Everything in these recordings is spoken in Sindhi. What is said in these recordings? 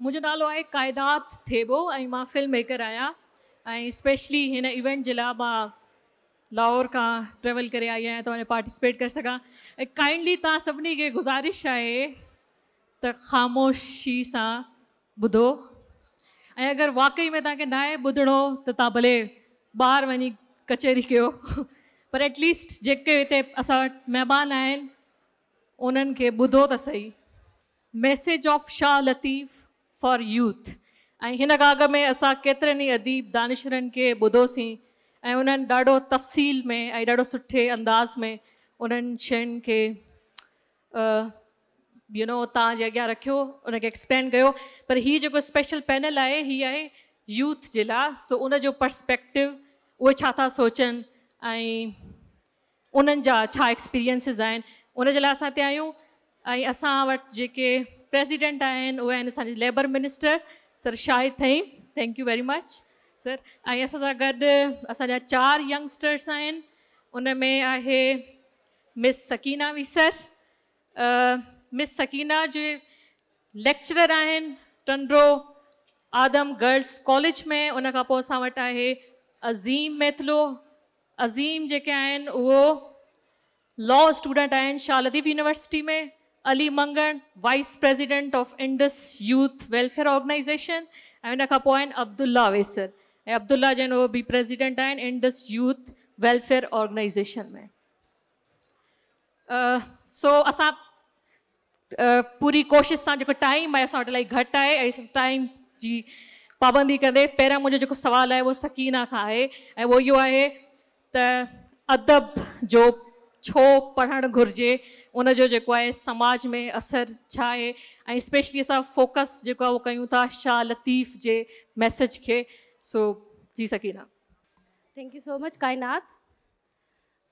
منهنجو نالو آهي ڪائدات ٿيٻو ۽ مان فلم ميڪر آهيان ۽ اسپيشلي هن ايونٽ جي لاء مان لاهور کان ٽريول ڪري آئي آهيان ته پارٽيسپيٽ ڪري سگهان ۽ ڪائنڊلي توهان سڀني کي گذارش آهي ته خاموشي سان ٻڌو ۽ اگر واقعي ۾ توهان کي ناهي ٻڌڻو ته توهان ڀلي ٻاهر وڃي ڪچهري ڪيو پر ايٽ ليسٽ جيڪي هتي اسان وٽ مهمان آهن انهن کي ٻڌو ته سهي message of Shah Latif for youth ۽ هن ڳاگهه ۾ اسان ڪيترن ئي اديب دانشورن کي ٻڌو سين ۽ انهن ڏاڍو تفصيل ۾ ۽ ڏاڍو سٺي انداز ۾ انهن شين کي يو نو تان جي اڳيان رکيو ان کي ايڪسپلين ڪيو پر هي جيڪو اسپيشل پينل آهي هي آهي يوٿ جي لا سو ان جو پرسپيڪٽو اهي ڇا ٿا سوچن ۽ انهن جا ڇا ايڪسپيرينسز آهن ان جي لاء اسان هتي آيون ۽ اسان وٽ جيڪي پريزيڊنٽ آهن اهي آهن اسان جي labour minister sir Shahid Thaheem thank you very much sir ۽ اسان سان گڏ اسان جا چار ينگسٽرس آهن ان ۾ آهي مس سڪينا ويسر مس سڪينا جي ليڪچرر آهن ٽنڊو آدم گرلس ڪاليج ۾ ان کان پوء اسان وٽ آهي عظيم ميتلو عظيم جيڪي آهن اهو لا اسٽوڊنٽ آهن Shah Latif university ۾ Ali Mangan vice president of Indus youth welfare organisation ۽ ان کان پوء آهن عبدالله اويسر ۽ عبدالله جن اهو به پريزيڊنٽ آهن انڊس يوٿ ويلفيئر آرگنائيزيشن ۾ سو اسان پوري ڪوشش سان جيڪو ٽائيم آهي اسان وٽ الاهي گهٽ آهي ۽ ٽائيم جي پابندي ڪندي پهريان منهنجو جيڪو سوال آهي اهو سڪينه کان آهي ۽ اهو اهو آهي ته ادب جو ڇو پڙهڻ گهرجي ان جو جيڪو آهي سماج ۾ اثر ڇا آهي ۽ اسپيشلي اسان فوڪس جيڪو اهو ڪيون ٿا شاهه لطيف جي ميسج کي سو جي Sakina thank you so much Kainat.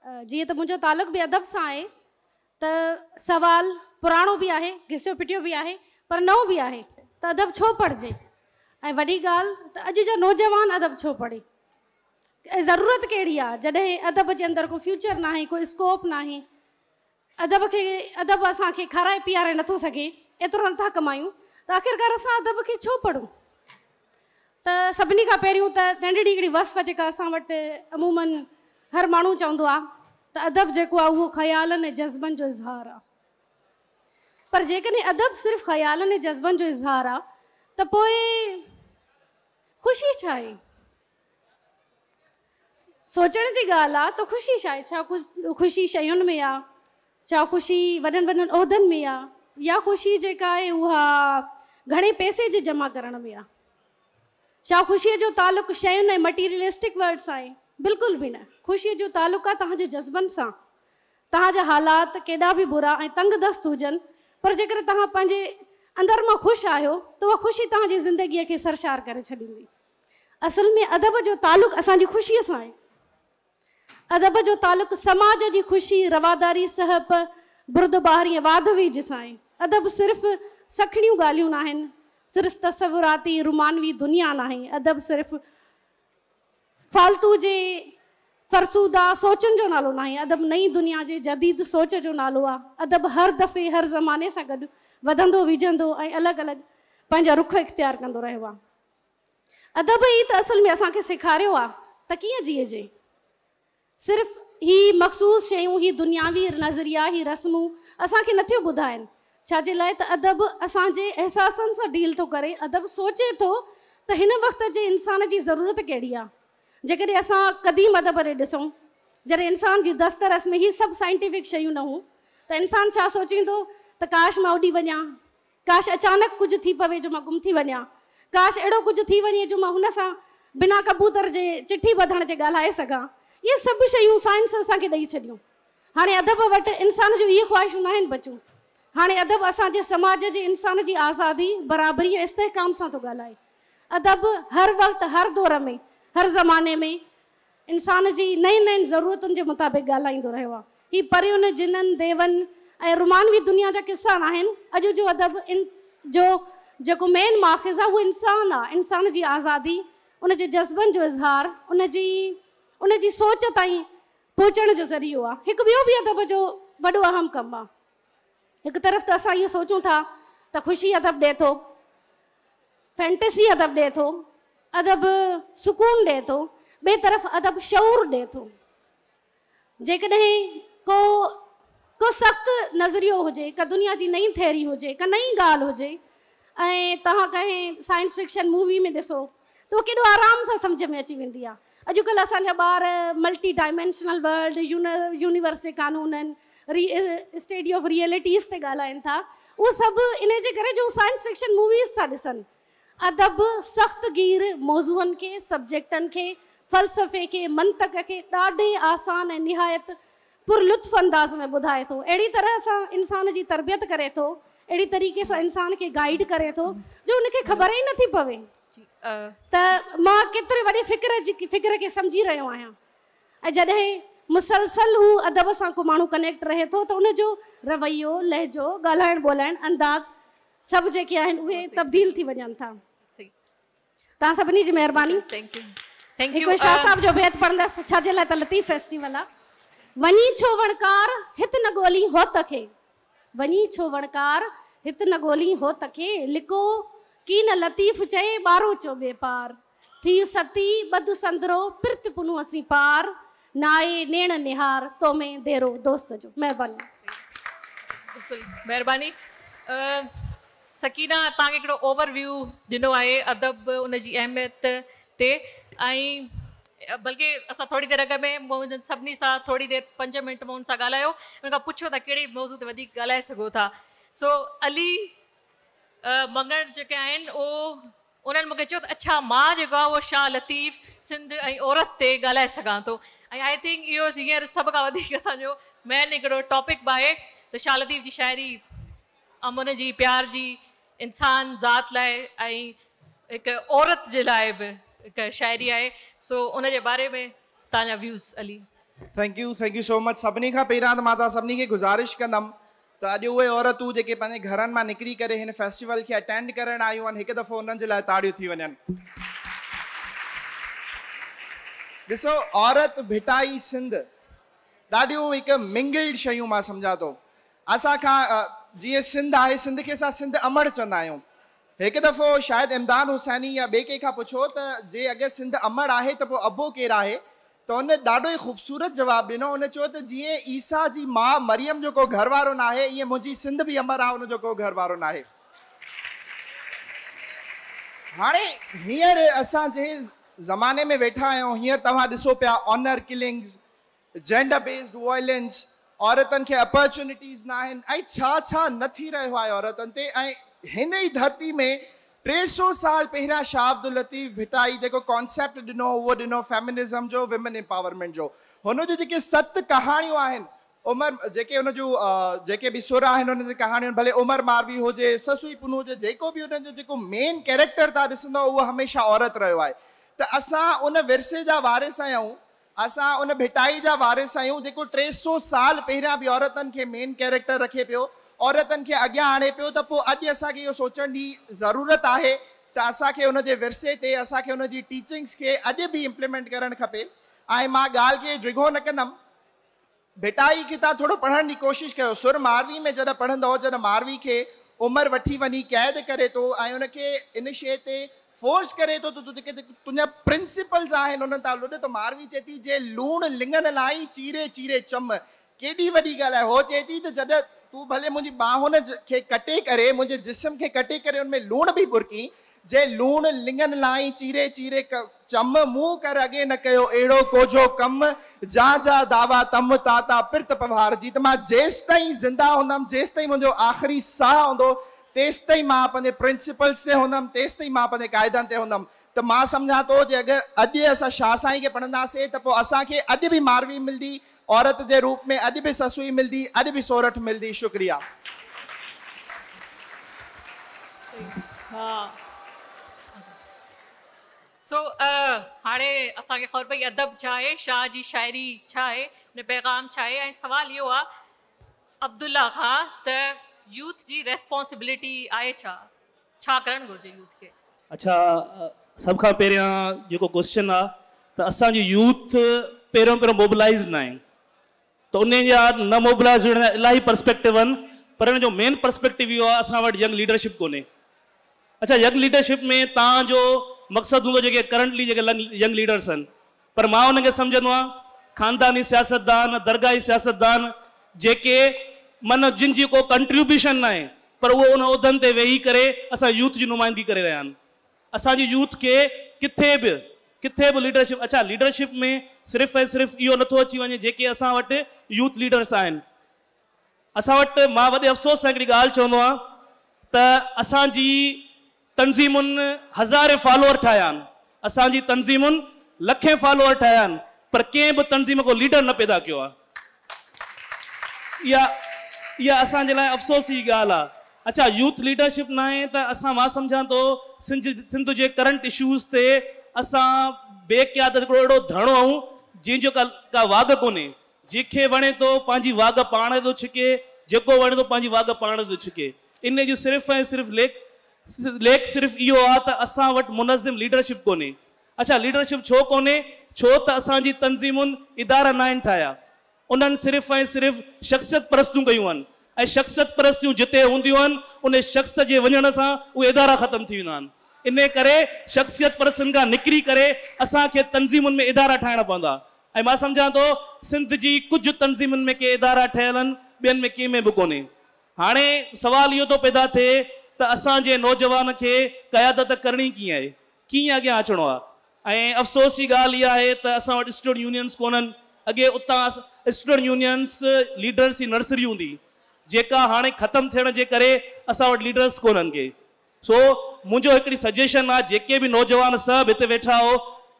جيئن ته منهنجو تعلق به ادب سان آهي ته سوال پراڻو به آهي، گسيو پٽيو به آهي پر نئون به آهي ته ادب ڇو پڙهجي ۽ وڏي ڳالهه ته اڄ جو نوجوان ادب ڇو پڙهي ۽ ضرورت ڪهڙي آهي جڏهن ادب جي اندر ڪو فيوچر ناهي ڪو اسڪوپ ناهي ادب کي ادب اسان کي کارائي پيئاري نٿو سگهي، ايترو نٿا ڪمايون ته آخرڪار اسان ادب کي ڇو پڙهون؟ ته سڀني کان پهريون ته ننڍڙي هڪڙي وصف جيڪا اسان وٽ عموماً هر ماڻهو چوندو آ ته ادب جيڪو آ اهو خيالن ۽ جذبن جو اظهار آ. پر جيڪڏهن ادب صرف خيالن ۽ جذبن جو اظهار آ ته پوء خوشي ڇا آهي؟ سوچڻ جي ڳالهه آ ته خوشي ڇا آهي؟ ڇا خوشي شين ۾ آ؟ ڇا خوشي وڏن وڏن عهدن ۾ آ؟ يا خوشي جيڪا آهي اها گهڻي پئسي جي جمع ڪرڻ ۾ آ؟ ڇا خوشي جو تعلق شين ۽ مٽيريلسٽڪ ورلڊ سان آهي؟ بلڪل به نه. خوشي جو تعلق آ توهان جي جذبن سان. توهان جا حالات ڪيڏا به برا ۽ تنگ دست هجن پر جيڪڏهن توهان پنهنجي اندر مان خوش آهيو ته اها خوشي توهان جي زندگيء کي سرشار ڪري ڇڏيندي. اصل ۾ ادب جو تعلق اسان جي خوشي سان آهي. ادب جو تعلق سماج جي خوشي، رواداري، سهپ، بردباهه ۽ واڌ ويجهه سان آهي. ادب صرف سکڻيون ڳالهيون ناهن، صرف تصوراتي رومانوي دنيا ناهي، ادب صرف فالتو جي فرسوده سوچن جو نالو ناهي، ادب نئين دنيا جي جديد سوچ جو نالو آهي. ادب هر دفعي هر زماني سان گڏ وڌندو ويجهندو ۽ الڳ الڳ پنهنجا رخ اختيار ڪندو رهيو آهي. ادب ئي ته اصل ۾ اسان کي سيکاريو آ ته ڪيئن جيئجي. صرف هي مخصوص شيون، هي دنياوي نظريا، هي رسمون اسان کي نٿيون ٻڌائين. ڇا جي لاء ته ادب اسان جي احساسن سان ڊيل ٿو ڪري. ادب سوچي ٿو ته هن وقت جي انسان جي ضرورت ڪهڙي آ. جيڪڏهن اسان قديم ادب ڏي ڏسون، جڏهن انسان جي دسترس ۾ هي سڀ سائنٽيفڪ شيون نه هون ته انسان ڇا سوچيندو ته ڪاش مان اڏي وڃان. ڪاش اچانڪ ڪجهه ٿي پوي جو مان گم ٿي وڃان. ڪاش اهڙو ڪجهه ٿي وڃي جو مان هن سان بنا ڪبوتر جي چٺي ٻڌڻ جي ڳالهائي سگهان. اهي سڀ شيون سائنس اسان کي ڏئي ڇڏيون. هاڻي ادب وٽ انسان جون اهي خواهشون ناهن بچيون. هاڻي ادب اسان جي سماج جي انسان جي آزادي، برابري ۽ استحڪام سان ٿو ڳالهائي. ادب هر وقت، هر دور ۾، هر زماني ۾، انسان جي نئين نئين ضرورتن جي مطابق ڳالهائيندو رهيو آهي. هي پرين، جنن، ديون ۽ رومانوي دنيا جا قصا ناهن. اڄ جو ادب جو جيڪو مين ماخذ آهي اهو انسان آهي، انسان جي آزادي، ان جي جذبن جو اظهار، ان جي ان جي سوچ تائين پهچڻ جو ذريعو آهي. هڪ ٻيو به ادب جو وڏو اهم ڪم آهي. هڪ طرف ته اسان اهو سوچون ٿا ته خوشي ادب ڏئي ٿو، فينٽسي ادب ڏئي ٿو، ادب سڪون ڏئي ٿو، ٻئي طرف ادب شعور ڏئي ٿو. جيڪڏهن ڪو ڪو سخت نظريو هجي، ڪا دنيا جي نئين ٿيئري هجي، ڪا نئين ڳالهه هجي ۽ توهان ڪنهن سائنس فڪشن مووي ۾ ڏسو ته اهو ڪيڏو آرام سان سمجهه ۾ اچي ويندي آهي. اڄڪلهه اسان جا ٻار ملٽي ڊائمينشنل ورلڊ، يونيورس جي قانونن، ري اسٽيڊي آف ريئلٽيز تي ڳالهائين ٿا. اهو سڀ انهي جي ڪري جو هو سائنس فڪشن موويز ٿا ڏسن. ادب سخت گير موضوعن کي، سبجيڪٽن کي، فلسفي کي، منطق کي ڏاڍي آسان ۽ نهايت پر لطف انداز ۾ ٻڌائي ٿو، اهڙي طرح سان انسان جي تربيت ڪري ٿو، اهڙي طريقي سان انسان کي گائيڊ ڪري ٿو جو ان کي خبر ئي نٿي پوي ته مان ڪيتري وڏي فڪر جي فڪر کي سمجهي رهيو آهيان ۽ جڏهن مسلسل هو ادب سان ڪو ماڻهو ڪنيڪٽ رهي ٿو ته ان جو رويو، لهجو، ڳالهائڻ ٻولهائڻ انداز سڀ جيڪي آهن اهي تبديل ٿي وڃن ٿا. توهان سڀني جي مهرباني هڪ شاهه صاحب جو بيت پڙهندس ڇا جي لاء ته لطيف فيسٽيول آ وڃي ڇو وڻڪار هت نه ڳولين هوت کي وڃي ڇو وڻڪار هت نه ڳولين هوت کي لڪو ڪي نه لطيف چئي ٻارو چو ٻي پار ٿي ستي ٻڌ سندرو پرت پنو اسين پار نائي نيڻ نهار تو ۾ ديرو دوست جو مهرباني بلڪل مهرباني سڪينه توهان کي هڪڙو اوور ويو ڏنو آهي ادب ان جي اهميت تي ۽ بلڪ اسان ٿوري دير اڳ ۾ مون انهن سڀني سان ٿوري دير پنج منٽ مون ان سان ڳالهايو ان کان پڇيو ته ڪهڙي موضوع تي وڌيڪ ڳالهائي سگهو ٿا سو علي مڱڻ جيڪي آهن اهو انهن مون کي چيو ته اڇا مان جيڪو آهي اهو شاهه لطيف، سنڌ ۽ عورت تي ڳالهائي سگهان ٿو ۽ آئي ٿنڪ اهو هينئر سڀ کان وڌيڪ اسان جو مين هڪڙو ٽاپڪ به آهي ته شاهه لطيف جي شاعري امن جي، پيار جي، انسان ذات لاء ۽ هڪ عورت جي لاء به هڪ شاعري آهي سو ان جي باري ۾ تهان جا views Ali. Thank you thank you so much سڀني کان پهريان ته مان توهان سڀني کي گذارش ڪندم ته اڄ اهي عورتون جيڪي پنهنجي گهرن مان نڪري ڪري هن فيسٽيول کي اٽينڊ ڪرڻ آيون آهن هڪ دفعو انهن جي لاء تاڙيون ٿي وڃن. ڏسو عورت ڀٽائي سنڌ ڏاڍيون هڪ منگلڊ شيون مان سمجهان ٿو اسان کان جيئن سنڌ آهي سنڌ کي اسان سنڌ امڙ چوندا آهيون هڪ دفعو شايد امداد حسيني يا ٻي ڪنهن کان پڇو ته جي اگر سنڌ امڙ آهي ته پوء ابو ڪير آهي ته ان ڏاڍو ئي خوبصورت جواب ڏنو، ان چيو ته جيئن عيسيٰ جي ماء مريم جو ڪو گهر وارو ناهي، ايئن منهنجي سنڌ به امر آهي ان جو ڪو گهر وارو ناهي. هاڻي هينئر اسان جنهن زماني ۾ ويٺا آهيون، هينئر توهان ڏسو پيا honour killings, gender based violence, عورتن کي اپرچونيٽيز ناهن ۽ ڇا ڇا نه ٿي رهيو آهي عورتن تي ۽ هن ئي ڌرتي ۾ ٽي سئو سال پهريان شاهه عبداللطيف ڀٽائي جيڪو ڪانسيپٽ ڏنو اهو ڏنو فيمنزم جو ويمن امپاورمينٽ جو هن جون جيڪي ست ڪهاڻيون آهن عمر جيڪي هن جون جيڪي به سر آهن هن جي ڪهاڻيون ڀلي عمر ماروي هجي سسوئي پنهون هجي جيڪو به هن جو جيڪو مين ڪيريڪٽر تان ڏسندو اهو هميشه عورت رهيو آهي ته اسان ان ورثي جا وارث آهيون اسان ان ڀٽائي جا وارث آهيون جيڪو ٽي سئو سال پهريان به عورتن کي مين ڪيريڪٽر رکي پيو، عورتن کي اڳيان آڻي پيو ته پوء اڄ اسان کي اهو سوچڻ جي ضرورت آهي ته اسان کي ان جي ورثي تي اسان کي ان جي ٽيچنگز کي اڄ به امپليمينٽ ڪرڻ کپي ۽ مان ڳالهه کي ڊگهو نه ڪندم. ڀٽائي ڪٿا ٿورو پڙهڻ جي ڪوشش ڪيو. سر ماروي ۾ جڏهن پڙهندؤ، جڏهن ماروي کي عمر وٺي وڃي قيد ڪري ٿو ۽ ان کي ان شيء تي فورس ڪري ٿو ته تون جيڪي تنهنجا پرنسپلز آهن انهن تان لڏ ته ماروي چئي ٿي جي لوڻ لڱن لائي چيري چيري چم ڪيڏي وڏي ڳالهه آهي هوء چئي ٿي ته جڏهن تون ڀلي منهنجي ٻانهن کي ڪٽي ڪري منهنجي جسم کي ڪٽي ڪري ان ۾ لوڻ به ٻرڪين جي لوڻ لڱن لائين چيري چيري ڪه چم، مون ڪر اڳي نه ڪيو اهڙو ڪوجهو ڪم، جا جا دعويٰ تم، تا تا پرت پوهار جي، ته مان جيستائين زنده هوندم، جيستائين منهنجو آخري ساهه هوندو، تيستائين مان پنهنجي پرنسپلز تي هوندم، تيستائين مان پنهنجي قاعدن تي هوندم، ته مان سمجهان ٿو جي اگر اڄ اسان شاهه سائين کي پڙهنداسين ته پوء اسان کي اڄ به ماروي ملدي، عورت جي روپ ۾ اڄ به سسئي ملدي اڄ به سورٺ ملدي شڪريا. سو هاڻي اسان کي خبر پئي ادب ڇا آهي شاهه جي شاعري ڇا آهي ان پيغام ڇا آهي ۽ سوال اهو آهي عبدالله کان ته يوٿ جي ريسپانسبلٽي آهي ڇا؟ ڇا ڪرڻ گهرجي يوٿ کي؟ اڇا سڀ کان پهريان جيڪو ڪوسچن آ ته اسان جو يوٿ پهريون پهريون موبلائيز ناهي ته انهن جا نه موبلائيز هجڻ جا الاهي پرسپيڪٽو آهن پر ان جو مين پرسپيڪٽو اهو آ اسان وٽ ينگ ليڊرشپ ڪونهي اڇا ينگ ليڊرشپ ۾ تان جو مقصد هوندو جيڪي ڪرنٽلي جيڪي ينگ ليڊرس آهن پر مان ان کي سمجهندو آهيان خانداني سياستدان، درگاهي سياستدان جيڪي من جن جي ڪو ڪنٽريبيوشن ناهي پر اهي ان عهدن تي ويهي ڪري اسان يوٿ جي نمائندگي ڪري رهيا آهن. اسان جي يوٿ کي ڪٿي به ڪٿي به ليڊرشپ اڇا ليڊرشپ ۾ صرف ۽ صرف اهو نٿو اچي وڃي جيڪي اسان وٽ يوٿ ليڊرس آهن اسان وٽ مان وڏي افسوس سان هڪڙي ڳالهه چوندو آهيان ته اسان جي تنظيمن هزارين فالوور ٺاهيا آهن، اسان جي تنظيمن لکين فالوور ٺاهيا آهن پر ڪنهن به تنظيم ڪو ليڊر نه پيدا ڪيو آهي. اها اها اسان جي لاء افسوس جي ڳالهه آهي. اڇا يوٿ ليڊرشپ ناهي ته اسان مان سمجهان ٿو سنج سنڌ جي ڪرنٽ اشوز تي اسان بي قيادت هڪڙو اهڙو ڌڻو آهيون جنهن جو ڪا ڪا واڳ ڪونهي. جنهن کي وڻي ٿو پنهنجي واڳ پاڻ ٿو ڇڪي، جيڪو وڻي ٿو پنهنجي واڳ پاڻ ٿو ڇڪي. انهيء جو صرف ۽ صرف ليک ليک صرف اهو آ ته اسان وٽ منظم ليڊرشپ ڪونهي. اڇا ليڊرشپ ڇو ڪونهي؟ ڇو ته اسان جي تنظيمن ادارا ناهن ٺاهيا. انهن صرف ۽ صرف شخصيت پرستيون ڪيون آهن ۽ شخصيت پرستيون جتي هونديون آهن انهي شخص جي وڃڻ سان اهي ادارا ختم ٿي ويندا آهن. انهيء ڪري شخصيت پرستين کان نڪري ڪري اسان کي تنظيمن ۾ ادارا ٺاهڻا پوندا. ۽ مان سمجهان ٿو سنڌ جي ڪجهه تنظيمن ۾ ڪي ادارا ٺهيل آهن ٻين ۾ ڪنهن ۾ به ڪونهي. هاڻي سوال اهو ٿو پيدا ٿئي ته اسان جي نوجوان کي قيادت ڪرڻي ڪيئن آهي؟ ڪيئن اڳيان اچڻو آهي؟ ۽ افسوس جي ڳالهه اها آهي ته اسان وٽ اسٽوڊنٽ يونينز ڪونهن. اڳي اتان اسٽوڊنٽ يونينز ليڊرز جي نرسري هوندي هئي جيڪا هاڻي ختم ٿيڻ جي ڪري اسان وٽ ليڊرز ڪونهن ڪي. سو منهنجو هڪڙي سجيشن آ جيڪي به نوجوان سڀ هتي ويٺا آهو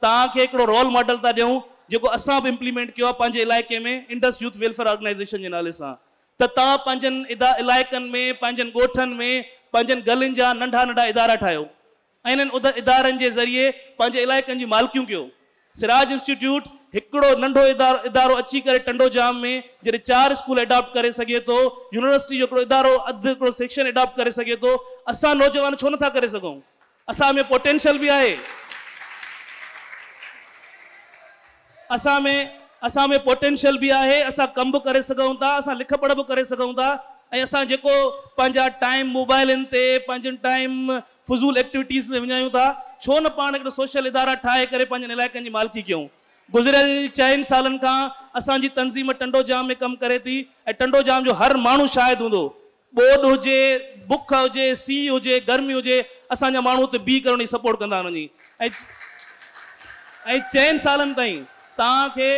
توهان کي هڪڙو رول ماڊل ٿا ڏيون جيڪو اسان به امپليمينٽ ڪيو آ پنهنجي علائقي ۾ انڊس يوٿ ويلفيئر آرگنائيزيشن جي نالي سان ته توهان پنهنجن علائقن ۾ پنهنجن ڳوٺن ۾ پنهنجن گلين جا ننڍا ننڍا ادارا ٺاهيو ۽ انهن ادارن جي ذريعي پنهنجي علائقن جي مالڪيون ڪيو سراج انسٽيٽيوٽ هڪڙو ننڍو ادارو اچي ڪري ٽنڊوڄام ۾ جڏهن چار اسڪول اڊاپٽ ڪري سگهي ٿو، يونيورسٽي جو هڪڙو ادارو اڌ هڪڙو سيڪشن اڊاپٽ ڪري سگهي ٿو، اسان نوجوان ڇو نٿا ڪري سگهون؟ اسان ۾ پوٽينشل به آهي. اسان ۾ اسان ۾ پوٽينشل به آهي، اسان ڪم به ڪري سگهون ٿا، اسان لک پڙهه به ڪري سگهون ٿا ۽ اسان جيڪو پنهنجا ٽائيم موبائلن تي پنهنجن ٽائيم فضول ايڪٽويٽيز ۾ وڃايون ٿا، ڇو نه پاڻ هڪڙا سوشل ادارا ٺاهي ڪري پنهنجن علائقن جي مالڪي ڪيون. گذريل چئن سالن کان اسان جي تنظيم ٽنڊو ڄام ۾ ڪم ڪري ٿي ۽ ٽنڊو ڄام جو هر ماڻهو شاهد هوندو ٻوڏ هجي، بک هجي، سيء هجي، گرمي هجي اسان جا ماڻهو اتي بيهي ڪري ان جي سپورٽ ڪندا آهن وڃي ۽ چئن سالن تائين توهان کي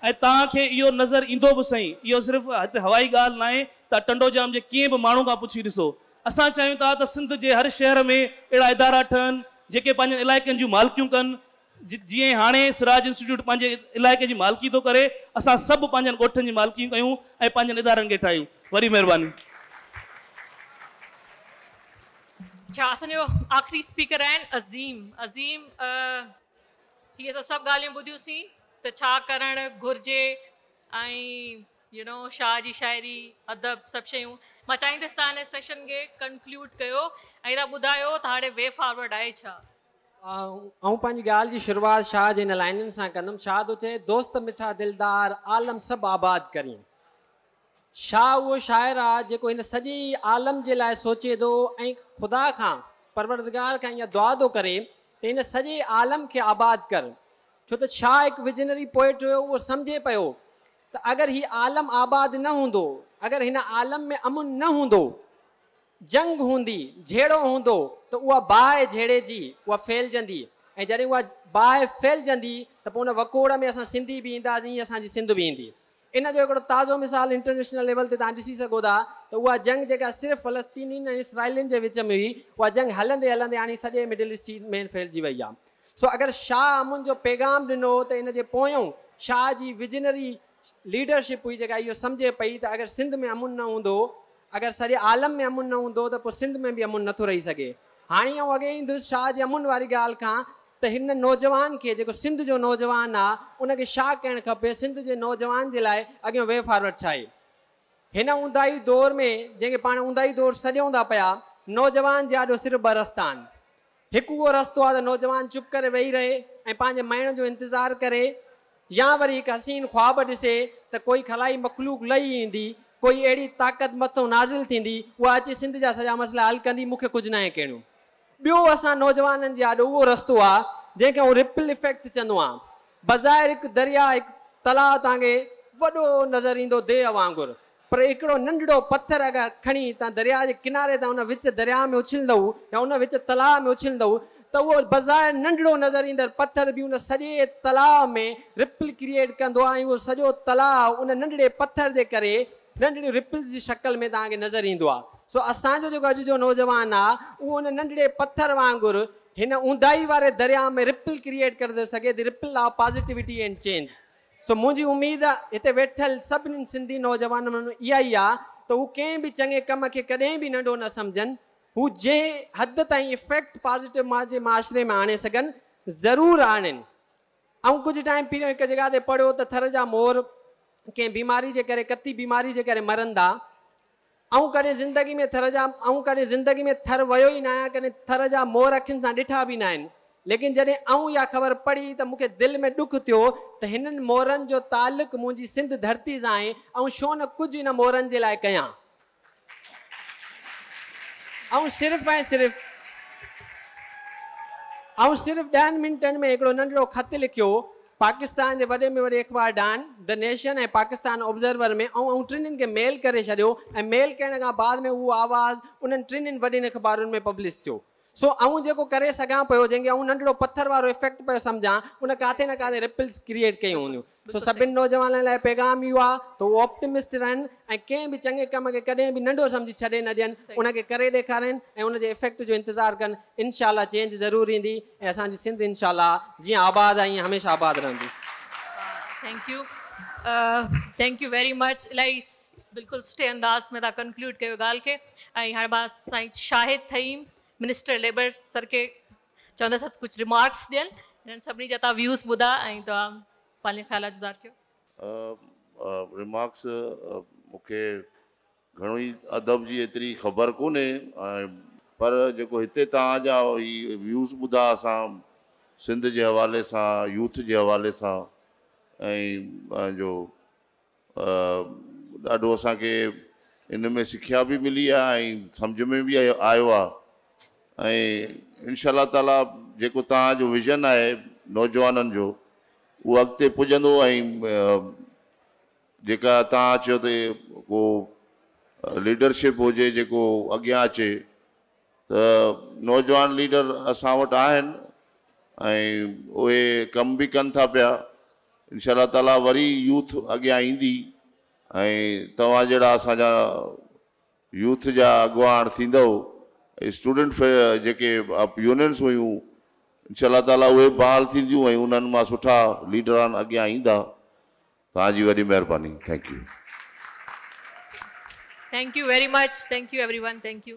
۽ توهان کي اهو نظر ايندو به سهي اهو صرف هتي هوائي ڳالهه ناهي ته ٽنڊو ڄام جي ڪنهن به ماڻهو کان پڇي ڏسو اسان چاهيون ٿا ته سنڌ جي هر شهر ۾ اهڙا ادارا ٺهن جيڪي پنهنجن علائقن جون مالڪيون ڪن جيئن هاڻي سراج انسٽيٽيوٽ پنهنجي علائقي جي مالڪي ٿو ڪري اسان سڀ پنهنجن ڳوٺن جي مالڪيون ڪيون ۽ پنهنجن ادارن کي ٺاهيون وڏي مهرباني. اچھا اسان جو آخري اسپيڪر آهن عظيم عظيم هي اسان سڀ ڳالهيون ٻڌيون سين ته ڇا ڪرڻ گهرجي ۽ يو نو شاهه جي شاعري، ادب سڀ شيون مان چاهيندس ته هن سيشن کي ڪنڪلوڊ ڪيو ۽ تان ٻڌايو ته هاڻي وي فارورڊ آهي ڇا؟ آئون پنهنجي ڳالهه جي شروعات شاهه جي هن لائنن سان ڪندم، شاهه ٿو چئي، دوست مٺا دلدار عالم سڀ آباد ڪرين. شاهه اهو شاعر آ جيڪو هن سڄي عالم جي لاء سوچي ٿو ۽ خدا کان، پروردگار کان اها دعا ٿو ڪري ته هن سڄي عالم کي آباد ڪر. ڇو ته شاهه هڪ وزنري پوئٽ هيو اهو سمجهي پيو ته اگر هي عالم آباد نه هوندو، اگر هن عالم ۾ امن نه هوندو، جنگ هوندي، جهيڙو هوندو ته اها باهه جهيڙي جي، اها ڦهلجندي ۽ جڏهن اها باهه ڦهلجندي ته پوء ان وڪوڙ ۾ اسان سنڌي به اينداسين ۽ اسان جي سنڌ به ايندي. ان جو هڪڙو تازو مثال انٽرنيشنل ليول تي توهان ڏسي سگهو ٿا ته اها جنگ جيڪا صرف فلسطينين ۽ اسرائيلين جي وچ ۾ هئي، اها جنگ هلندي هلندي هاڻي سڄي مڊل ايسٽ ۾ ڦهلجي وئي آهي. سو اگر شاهه امن جو پيغام ڏنو هو ته ان جي پويون شاهه جي ويجنري ليڊرشپ هئي جيڪا اهو سمجهي پئي ته اگر سنڌ ۾ امن نه هوندو اگر سڄي عالم ۾ امن نه هوندو ته پوء سنڌ ۾ به امن نٿو رهي سگهي هاڻي آئون اڳي ايندس شاهه جي امن واري ڳالهه کان ته هن نوجوان کي جيڪو سنڌ جو نوجوان آ ان کي شاهه ڪهڻ کپي سنڌ جي نوجوان جي لاء اڳيون وي فارورڊ ڇا هي هن اونداهي دور ۾ جنهن کي پاڻ اونداهي دور سڏيون ٿا پيا نوجوان جي آڏو صرف ٻه رستا آهن هڪ اهو رستو آهي ته نوجوان چپ ڪري ويهي رهي ۽ پنهنجي مئڻ جو انتظار ڪري يا وري هڪ حسين خواب ڏسي ته ڪوئي خلائي مخلوق لهي ايندي، ڪوئي اهڙي طاقت مٿئون نازل ٿيندي، اها اچي سنڌ جا سڄا مسئلا حل ڪندي، مون کي ڪجهه ناهي ڪهڻو. ٻيو اسان نوجوانن جي آڏو اهو رستو آهي، جنهن کي آئون رپل افيڪٽ چوندو آهيان. بظاهر هڪ درياهه، هڪ تلاء توهان کي وڏو نظر ايندو ديهه وانگر، پر هڪڙو ننڍڙو پٿر اگر کڻي تان درياء جي ڪناري تان ان وچ درياء ۾ اڇلندؤ يا ان وچ تلاء ۾ اڇلندؤ ته اهو بظاهر ننڍڙو نظر ايندڙ پٿر به ان سڄي تلاء ۾ رپل ڪريئيٽ ڪندو ۽ اهو سڄو تلاء ان ننڍڙي پٿر جي ڪري ننڍڙيون رپلز جي شڪل ۾ توهان کي نظر ايندو آهي سو اسان جو جيڪو اڄ جو نوجوان آهي اهو ان ننڍڙي پٿر وانگر هن اونداهي واري درياء ۾ رپل ڪريئيٽ ڪري ٿو سگهي the ripple of positivity and change. سو منهنجي اميد هتي ويٺل سڀني سنڌي نوجوانن مان اها ئي آ ته هو ڪنهن به چڱي ڪم کي ڪڏهن به ننڍو نه سمجهن، هو جنهن حد تائين افيڪٽ پازيٽو پنهنجي معاشري ۾ آڻي سگهن ضرور آڻين. آئون ڪجهه ٽائيم پهريون هڪ جڳهه تي پڙهيو ته ٿر جا مور ڪنهن بيماري جي ڪري ڪتي بيماري جي ڪري مرن ٿا. آئون ڪڏهن زندگي ۾ ٿر جا آئون ڪڏهن زندگي ۾ ٿر ويو ئي ناهيان ڪڏهن ٿر جا مور اکين سان ڏٺا به ناهن ليڪن جڏهن آئون اها خبر پڙهي ته مون کي دل ۾ ڏک ٿيو ته هنن مورن جو تعلق منهنجي سنڌ ڌرتي سان آهي آئون ڇو نه ڪجهه ان مورن جي لاء ڪيان آئون صرف ۽ صرف آئون صرف ڏهن منٽن ۾ هڪڙو ننڍڙو خط لکيو پاڪستان جي وڏي ۾ وڏي اخبار Dawn, the Nation ۽ Pakistan Observer ۾ آئون انهن ٽنهن کي ميل ڪري ڇڏيو ۽ ميل ڪرڻ کان بعد ۾ اهو آواز انهن ٽنهن وڏين اخبارن ۾ پبلش ٿيو. سو آئون جيڪو ڪري سگهان پيو، جنهن کي آئون ننڍڙو پٿر وارو افيڪٽ پيو سمجهان، ان ڪاٿي نه ڪاٿي رپلز ڪريئيٽ ڪيون هونديون. سو سڀني نوجوانن لاء پيغام اهو آهي ته هو آپٽمسٽ رهن ۽ ڪنهن به چڱي ڪم کي ڪڏهن به ننڍو سمجهي ڇڏي نه ڏين، ان کي ڪري ڏيکارين ۽ ان جي افيڪٽ جو انتظار ڪن، انشاء الله چينج ضرور ايندي ۽ اسان جي سنڌ انشاء الله جيئن آباد آهي ائين هميشه آباد رهندي. Thank you thank you very much الائي بلڪل سٺي انداز ۾ تان ڪنڪلوڊ ڪيو ڳالھ کي ۽ هاڻي مان سائين Shahid Thaheem minister labour sir کي چوندس ته ڪجھ ريمارڪس ڏين انهن سڀني جا تان ويوز ٻڌا ۽ تان پنهنجا خيالات ظاهر ڪيو. اهي ريمارڪس مون کي گهڻو ئي ادب جي ايتري خبر ڪونهي پر جيڪو هتي توهان جا هي ويوز ٻڌا اسان سنڌ جي حوالي سان يوٿ جي حوالي سان ۽ پنهنجو ڏاڍو اسان کي ان ۾ سکيا به ملي آهي ۽ سمجهه ۾ به آيو آهي ۽ انشاء الله تعالي جيڪو توهان جو ويزن آهي نوجوانن جو اهو اڳتي پڄندو ۽ جيڪا تان چيو ته ڪو ليڊرشپ هجي جيڪو اڳيان اچي ته نوجوان ليڊر اسان وٽ آهن ۽ اهي ڪم به ڪن ٿا پيا انشاء الله تعالي وري يوٿ اڳيان ايندي ۽ توهان جهڙا اسان جا يوٿ جا اڳواڻ ٿيندؤ ۽ اسٽوڊنٽ في جيڪي يونينس هيون انشاء الله تعاليٰ اهي به بحال ٿينديون ۽ انهن مان سٺا ليڊران اڳيان ايندا توهان جي وڏي مهرباني thank you. Thank you very much Thank you everyone Thank you.